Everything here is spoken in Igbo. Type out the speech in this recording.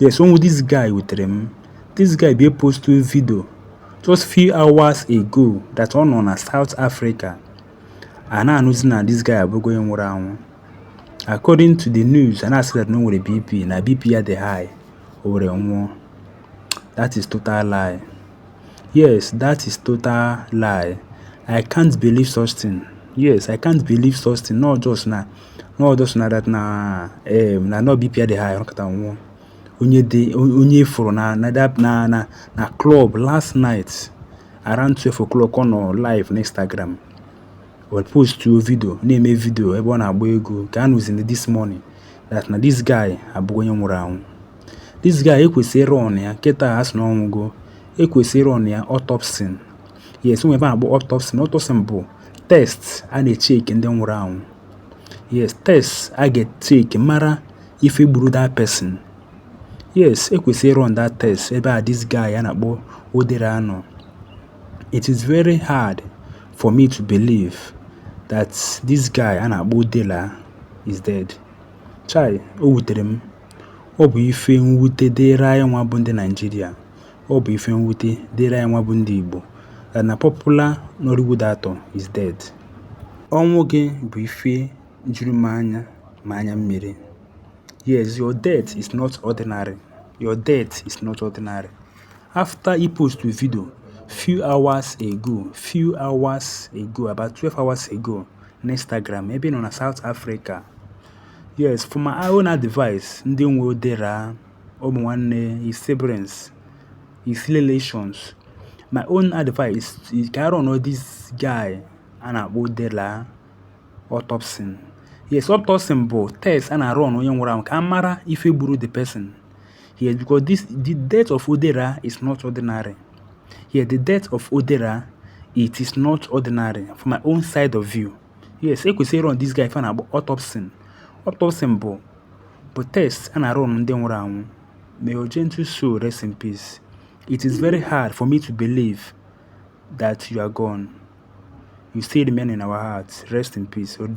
Yes, ọnwụ this guy wutere m. This guy be posted video just few hours ago that ọ nọ na South Africa. A na-anụzi na this guy abụgo onye nwụrụ anwụ. According to the news, a na-asị that na o nwere BP na BP ya dị high, o were nwụọ. That is total lie. Yes, that is total lie. I can't believe such thing. Yes, I can't believe such thing. Not just na not just na that na eh, na n'ọ BP ya dị high kpata ọ nwụọ onye dị onye a fụrụ na na that na na na club last night around 12 o'clock ọ nọ live na instagram o postuo video na-eme video ebe ọ na-agba ego ka a nụziri this morning that na this guy abụgo onye nwụrụ anwụ this guy ekwesịrị ịrun ya kịta a sị na ọ nwụgo ekwesịrị ịrun ya autopsy yes nwe ife a na-akpọ autopsy autopsy bụ test a na-echeki ndị nwụrụ anwụ yes test a ga-echeki mara ife gburu that person yes ekwesịrị ịrun that test ebe a this guy a na-akpọ Odira nọ it is very hard for me to believe that this guy a na-akpọ Odira is dead chai o wutere m ọ bụ ife mwute dịịrị anyị nwa bụ ndị Nigeria Ọ bụ ife mwute dịịrị anyị nwa bụ ndị Igbo that na popular Nollywood actor is dead. Ọnwụ gị bụ ife juru m anya ma anya mmiri. Yes, your death is not ordinary. Your death is not ordinary. After i postu video few hours ago, few hours ago, about 12 hours ago na Instagram ebe ị nọ na South Africa. Yes, for my own advice, ndị nwe Odira ụmụ nwanne his siblings his relations my own advice is ka a run this guy a na-akpọ Odira autopsy yes autopsy bụ test a na-arun onye nwụrụ anwụ ka a mara ife gburu the person yes because this the death of Odira is not ordinary yes the death of Odira it is not ordinary from my own side of view yes ekwesịrị ịrun this guy ife a na-akpọ autopsy autopsy bụ bụ test a na-arun ndị nwụrụ anwụ may your gentle soul rest in peace it is very hard for me to believe that you are gone you still remain in our hearts rest in peace